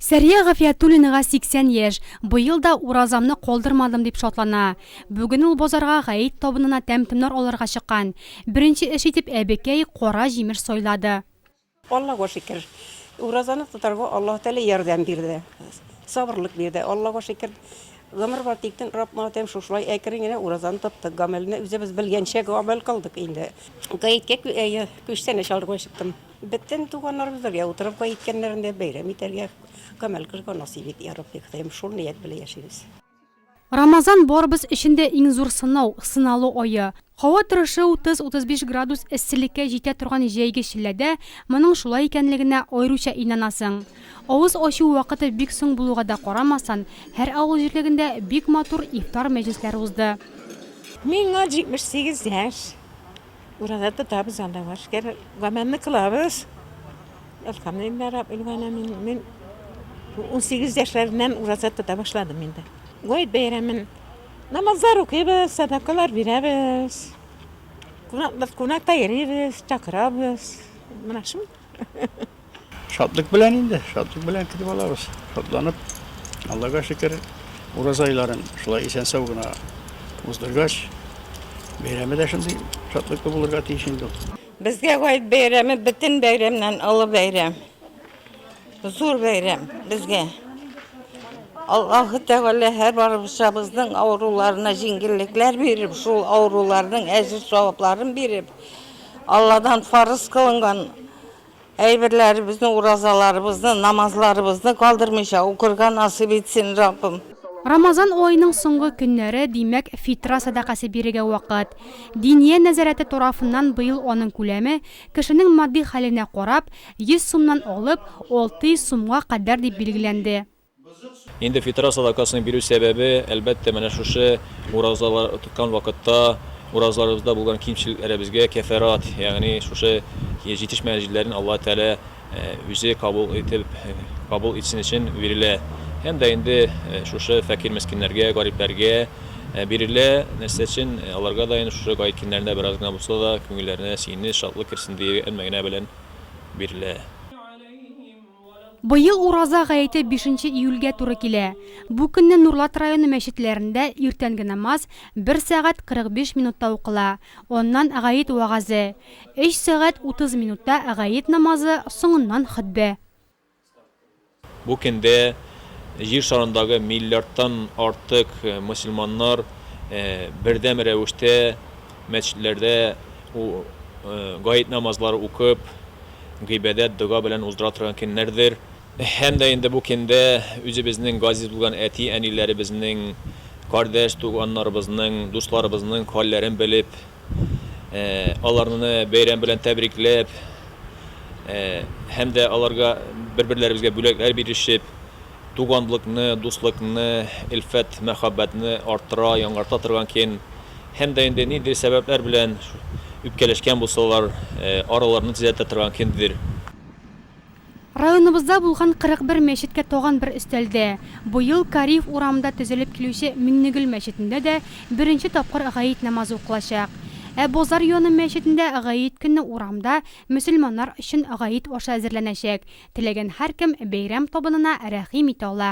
Сәрия Гафиятуллинага 80 яшь. Быел да уразамны калдырмадым дип шатлана. Бүген ул базарга гаит табынына тәм-томнар алырга чыккан. Беренче эш итеп әбекәй, кара җимеш сайлады. Аллага шөкер, уразаны тотарга Аллаһы Тәгалә ярдәм бирде, сабырлык бирде. Аллага шөкер, гомер бар тиктен рапмадым, шушылай әкрен генә уразаны тоттык. Гамәлне үзебез белгәнчә гамәл кылдык инде. Гаеткә күчтәнәч алырга чыктым. Бөтен туганнарыбыз бергә утырып гаи ткәннәрендә бәйрәм итәргә камәл кылырга насыйп ит, я Рабби, Ходаем, шул ният белән яшибез. Рамазан барыбыз өчен дә иң зур сынау, сыналу ае. Һава торышы 30-35 градус эсселеккә җитә торган җәйге челләдә моның шулай икәнлегенә аеруча инанасың. Авыз ачу вакыты бик соң булуга да карамастан, һәр авыл җирлегендә бик матур ифтар мәҗлесләре узды. Миңа 78 яшь. Ураза тотабыз анда бар шикәр. Гамәлне кылабыз. Әлхәмдулиллаһ раббил галәмин. Мин 18 яшьләреннән ураза тота башладым инде. Гает бәйрәмен намазлар укыйбыз, садакалар бирәбез. Кунаклар кунакта йөрибез, чакырабыз. Менә шул. Шатлык белән инде, шатлык белән көтеп алабыз. Шатланып, Аллага шөкер, ураза айларын шулай исән-сау гына уздыргач, бәйрәме дә шундый шатлыклы булырга тиеш инде. Безгә Гает бәйрәме бөтен бәйрәмнән олы бәйрәм. Зур бәйрәм безгә. Аллаһы Тәгалә һәрбарыбызның авыруларына җиңеллекләр биреп, шул авыруларның әҗер-савапларын биреп, Алладан фарыз кылынган Әйберләребезне, уразаларыбызны, намазларыбызны калдырмыйча укырга насыйп итсен, Раббым. Рамазан аеның соңгы көннәре, димәк, фитра сәдакәсе бирергә вакыт. Диния нәзарәте тарафыннан быел аның күләме, кешенең матди хәленә карап, 100 сумнан алып, 600 сумга кадәр дип билгеләнде. Инде фитра садакасын бирү сәбәбе, әлбәттә, менә шушы уразалар тоткан вакытта уразаларыбызда булган кимчелекләребезгә кәфарәт, ягъни шушы җитешмәгән җилләрен Аллаһы Тәгалә Үзе кабул итеп, кабул итсен өчен бирелә. Һәм дә инде шушы фәкыйрь-мескиннәргә, гарипләргә бирелә. Нәрсә өчен? Аларга да инде шушы гает көннәрендә бераз гына булса да күңелләренә сөенеч, шатлык керсен диюе мәгънә белән бирелә. Быел Ураза гаете бишенче июльгә туры килә. Бу көнне Нурлат районы мәчетләрендә иртәнге намаз бер сәгать 45 минутта укыла, аннан гает вәгазе, өч сәгать 30 минутта гает намазы, соңыннан хөтбә. Бу көндә Җир шарындагы миллиардтан артык мөселманнар бердәм рәвештә, Мәчетләрдә ул гает намазлары укып, гыйбадәт, дога белән уздыра торган көннәрдер. Һәм дә инде бу көндә үзебезнең газиз булган әти-әниләребезнең, кардәш-туганнарыбызның, дусларыбызның хәлләрен белеп, аларны бәйрәм белән тәбрикләп һәм дә аларга бер-берләребезгә бүләкләр бирешеп, Туганлыкны, дуслыкны, элфәт-мәхәббәтне арттыра, яңарта торган кен. Һәм дә инде ниндидер сәбәпләр белән үпкәләшкән булсалар, араларны төзәтә торган кинддер. Районыбызда булган 41 мәчеткә тагын бер өстәлде. Быел Кариев урамында төзелеп килүче Миңнегөл мәчетендә дә беренче тапкыр гает намазы укылачак. Ә Бозар Йоны мәчетендә гает көнне урамда мөселманнар өчен гает ашы әзерләнәчәк, Теләгән һәркем бәйрәм табынына рәхим итә ала.